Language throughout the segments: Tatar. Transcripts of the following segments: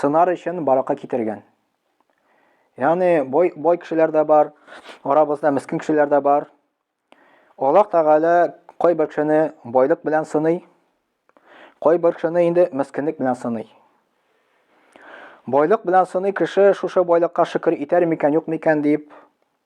сынар өчен баракка китергән. Яни бой, бой кешеләр дә бар, арабызда мискин кешеләр дә бар. Аллах Тәгалә кой бер кешене байлык белән сыный, кой бер кешене инде мискинлек белән сыный. Байлык белән сыный кеше шушы байлыкка шөкер итәр микән, юк микән дип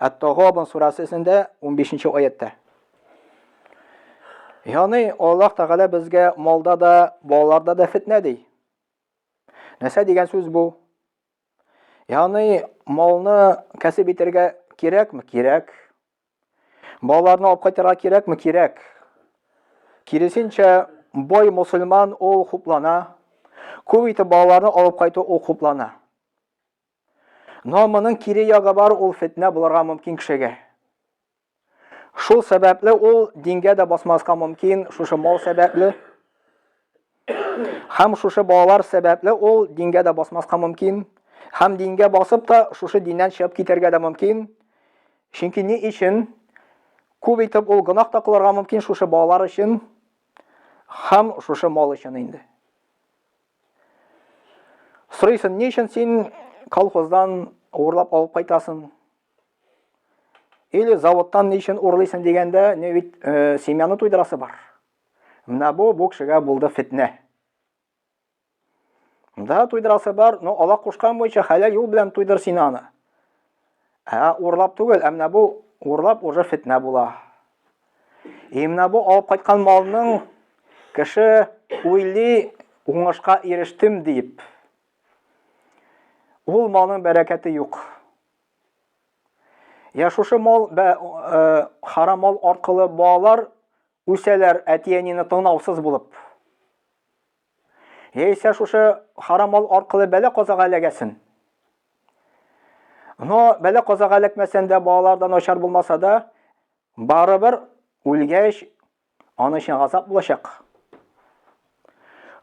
Ат-Тагабун сурәсендә 15 нче аятта. Яни Аллаһ Тәгалә безгә малда да, балаларда да фитнә ди. Нәрсә дигән сүз бу? Яни малны кәсеп итәргә кирәкме? Кирәк. Балаларны алып кайтырга кирәкме? Кирәк. Киресенчә, бай мусульман ул хуплана. Күп итеп балаларны алып кайту ул хуплана. Но моның кире ягы бар, ул фетнә булырга мөмкин кешегә. Шул сәбәпле ул дингә дә басмаска мөмкин, шушы мал сәбәпле. Хәм шушы балалар сәбәпле ул дингә дә басмаска мөмкин. Хәм дингә басып та шушы диннән чыгып китәргә дә мөмкин. Чөнки ни өчен күп итеп ул гынах та кылырга мөмкин шушы балалар өчен, хәм шушы мал өчен инде. Сорыйсын, ни өчен син колхоздан урлап алып кайтасың? Или заводтан ни өчен урлыйсың дигәндә, не бит э, семьяны туйдырасы бар. Менә бу бу кешегә булды фитнә. Да туйдырасы бар, но ала кушкан буенча хәләл юл белән туйдыр син аны. Ә урлап түгел, ә менә бу урлап уже фетнә була. И менә бу алып кайткан малның кеше уйлый уңышка ирештем дип. Ул малның бәрәкәте юк. Я шушы мал бә, э, харам мал аркылы балалар үсәләр әти-әнине тыңлаусыз булып. Яисә шушы харам мал аркылы бәлә-казага эләгәсен. Но бәлә-казага эләкмәсән дә, балалар да начар булмаса да, барыбер үлгәч аның өчен газап булачак.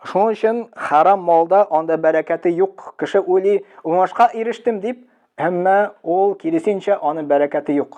Шуның өчен харам малда анда бәрәкәте юк. Кеше уйлый, уңышка ирештем дип, әмма ул киресенчә аның бәрәкәте юк.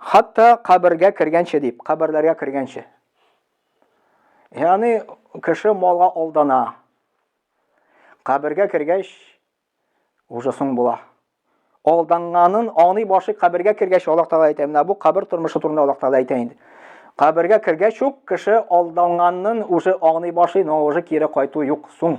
Хатта кабергә кергәнче дип, каберләргә кергәнче. Яни кеше малга алдана. Кабергә кергәч уже соң була. Алданганын аны башы кабергә кергәч Аллаһ Таала әйтә, менә бу кабер тормышы турында Аллаһ Таала әйтә инде. Кабергә кергәч үк кеше алданганын уже аны башы, но уже кире кайту юк, соң.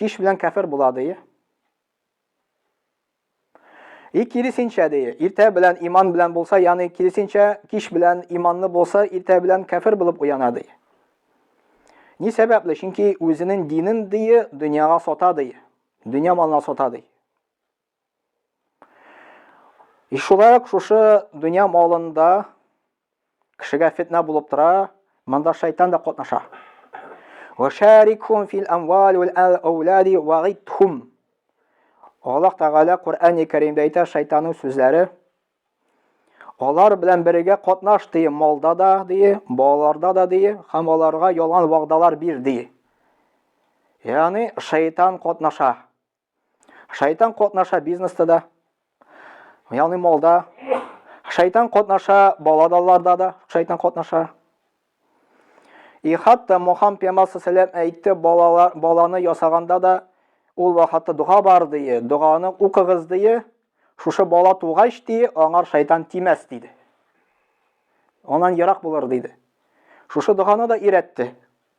Кич белән кәфер була, ди. И киресенчә ди, иртә белән иман белән булса, яны киресенчә киш белән иманны булса, иртә белән кәфер булып уяна ди. Ни сәбәпле? Чөнки үзенең динен ди, дөньяга сата ди. Дөнья малына сата ди. И шулай ук шушы дөнья малында кешегә фетнә булып тора, монда шайтан да катнаша. Вәшәрикхум фил амвал вәл аулади вагитхум. Аллаһ Тәгалә Коръәни Кәримдә әйтә шайтанның сүзләре. Алар белән бергә катнаш ди, малда да ди, балаларда да ди, һәм аларга ялган вәгъдалар бир ди. Ягъни шайтан катнаша. Шайтан катнаша бизнеста да, ягъни малда. Шайтан катнаша баладаларда да, шайтан катнаша. И хатта Мухаммад пәйгамбәр саллаллаху әйтте, балалар баланы ясаганда да ул вакытта дога бар дие, доганы укыгыз дие, шушы бала тугач дие, аңар шайтан тимәс диде. Анан ярак булыр диде. Шушы доганы да ирәтте.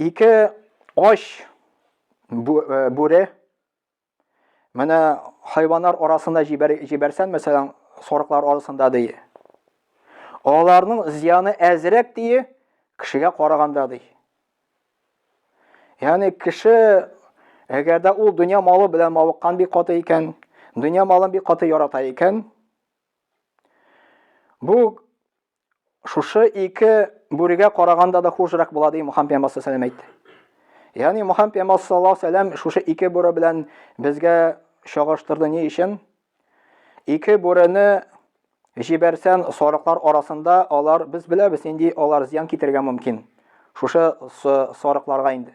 Ике ач э, бүре менә хайваннар арасында җибәр, җибәрсән, мәсәлән, сарыклар арасында ди. Аларның зияны әзрәк ди, кешегә караганда ди. Ягъни кеше әгәр дә ул дөнья малы белән мавыккан бик каты икән, дөнья малын бик каты ярата икән, бу Шушы ике бүрегә караганда да хужрак була ди Мухаммед пәйгамбәр саллаллаһу әйтте. Ягъни Мухаммед пәйгамбәр саллаллаһу алейһи шушы ике бүре белән безгә чагыштырды ни өчен? Ике бүрене җибәрсән сарыклар арасында алар без беләбез нинди алар зыян китерергә мөмкин. Шушы сарыкларга инде.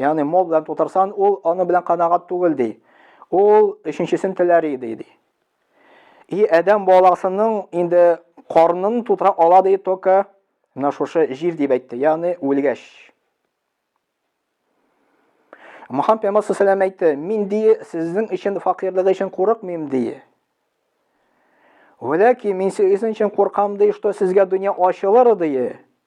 Ягъни мул белән тутырсан, ул аны белән канагат түгел ди. Ул өченчесен теләр иде ди. И адәм баласының инде карнын тутыра ала ди только менә шушы җир дип әйтте. Ягъни үлгәч. Мөхәммәд пәйгамбәр саллаллаху әйтте, мин ди сезнең өчен факирлык өчен курыкмыйм ди. Вәләки мин сезнең өчен куркам ди, что сезгә дөнья ачылыр ди.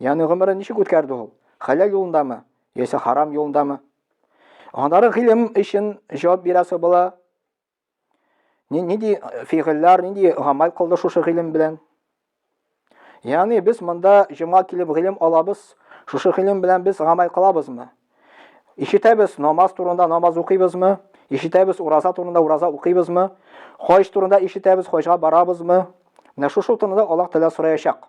Яны гомерен ничек үткәрде ул? Хәләл юлындамы? Яисә харам юлындамы? Анары гыйлем өчен җавап бирәсе була. Нинди э, фигыльләр, нинди гамәл кылды шушы гыйлем белән? Яны без монда җима килеп гыйлем алабыз, шушы гыйлем белән без гамәл кылабызмы? Ишетәбез намаз турында намаз укыйбызмы? Ишетәбез ураза турында ураза укыйбызмы? Хаҗ турында ишетәбез, хаҗга барабызмы? Менә шушы турында Аллаһ Тәгалә сораячак.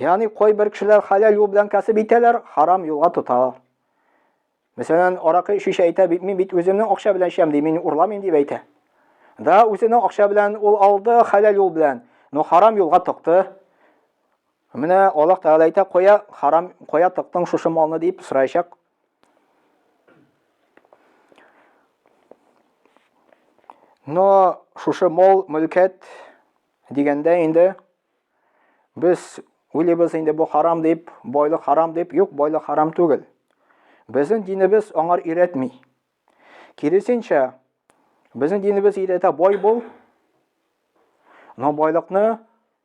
Ягъни кайбер кешеләр хәләл юл белән кәсеп итәләр, харам юлга тоталар. Мәсәлән, аракы эчүче әйтә бит, мин бит үземнең акча белән эчәм ди, мин урламыйм дип әйтә. Да, үзенең акча белән ул алды, хәләл юл белән, но харам юлга тыкты. Менә Аллаһ Тәгалә әйтә, кая харам, кая тыктың шушы малны дип сораячак. Но шушы мол мөлкәт дигәндә инде Без үлебез инде бу харам дип, байлык харам дип, юк, байлык харам түгел. Безнең динебез аңар өйрәтми. Киресенчә, безнең динебез өйрәтә бай бул, но байлыкны,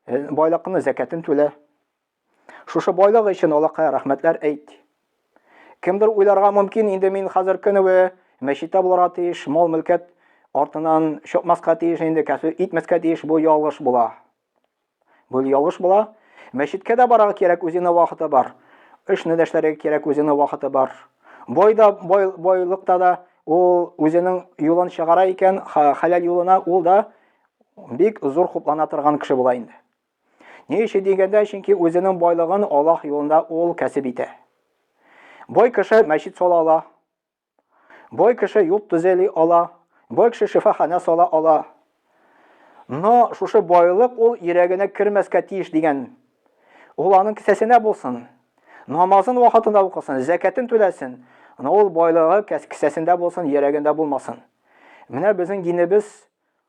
э, байлыкны зәкәтен түлә. Шушы байлык өчен Аллаһка рәхмәтләр әйт. Кемдер уйларга мөмкин, инде мин хәзер көневе мәчеттә булырга тиеш, мал-мөлкәт артынан чыкмаска тиеш, инде кәсү итмәскә тиеш, бу ялгыш була. Бу ялгыш була. Мәчеткә дә барырга кирәк, үзенә вакыты бар. Эшне дә эшләргә кирәк, үзенә вакыты бар. Бойда, бой, бойлыкта да ул үзенең юлын чыгара икән, хәләл юлына, ул да бик зур хуплана торган кеше була инде. Ни өчен дигәндә, чөнки үзенең байлыгын Аллаһ юлында ул кәсеп итә. Бай кеше мәчет сала ала. Бай кеше юл төзели ала. Бай кеше шифаханә сала ала. Но шушы байлык ул йөрәгенә кермәскә тиеш дигән. Ул аның кесәсенә булсын. Намазын вакытында укысын, зәкәтен түләсен. Но ул байлыгы кесәсендә булсын, йөрәгендә булмасын. Менә безнең динебез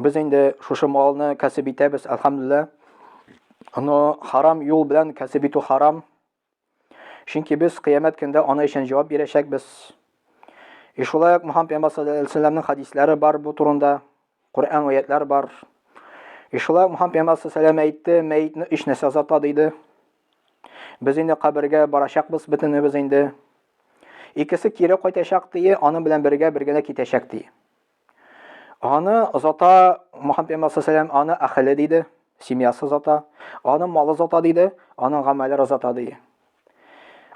Без инде шушы малны кәсеп итәбез, әлхәмдүлиллә. Аны харам юл белән кәсеп итү харам. Чөнки без кыямәт көндә аны өчен җавап бирәчәкбез. И шулай ук Мухаммад пәйгамбәр саллаллаһу алейһи ва хадисләре бар бу турында. Коръән аятлар бар. И шулай ук Мухаммад пәйгамбәр саллаллаһу алейһи әйтте, мәетне өч нәрсә азата диде. Без инде кабергә барачакбыз бөтенебез инде. Икесе кире кайтачак ди, аның белән бергә бергә дә китәчәк ди. Аны озата, Мөхәммәд пәйгамбәр сәләм, аны әхеле диде, семьясы озата, аны малы озата диде, аның гамәлләре озата ди.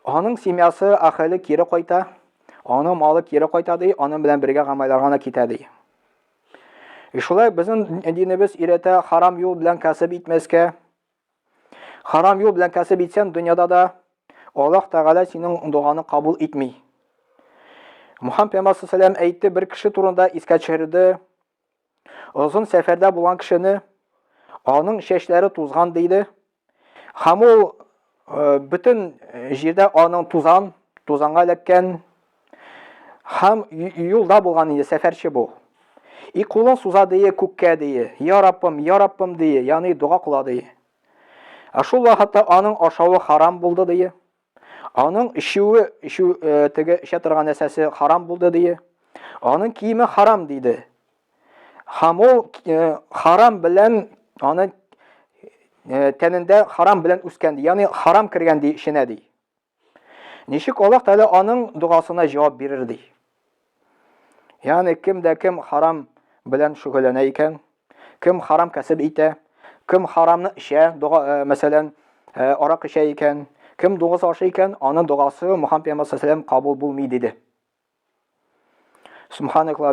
Аның семьясы, әхеле кире кайта, аның малы кире кайта ди, аның белән бергә гамәлләргә генә китә ди. Шулай безнең динебез өйрәтә харам юл белән кәсеп итмәскә, Харам юл белән кәсеп итсән, дөньяда да Аллаһ Тәгалә синең доганы кабул итми. Мухаммад пәйгамбәр саллаллаху әйтте, бер кеше турында искә төшерде. Озын сәфәрдә булган кешене аның чәчләре тузган диде. Һәм ул э, бөтен җирдә аның тузан, тузанга эләккән Хам юлда булган инде сәфәрче бу. И кулын суза дие күккә дие. Я Раббым, я Раббым дие, яни дога кыла дие. Ә шул вакытта аның ашавы харам булды дие. Аның ишүе, ишү э, теге эчә торган нәрсәсе харам булды дие. Аның киеме харам диде. Хам ул э, харам белән аны э, тәнендә харам белән үскән ди. Яни харам кергән ди эченә ди. Ничек Аллаһ Тәгалә аның догасына җавап бирер ди? Ягъни кем дә кем харам белән шөгыльләнә икән, кем харам кәсеп итә, кем харамны эчә, дога, э, мәсәлән, э, арак эчә икән, кем дуңгыз ашый икән, аның догасы Мухаммад пәйгамбәр саллаллаһу алейһи кабул булмый диде. Субханаклаһ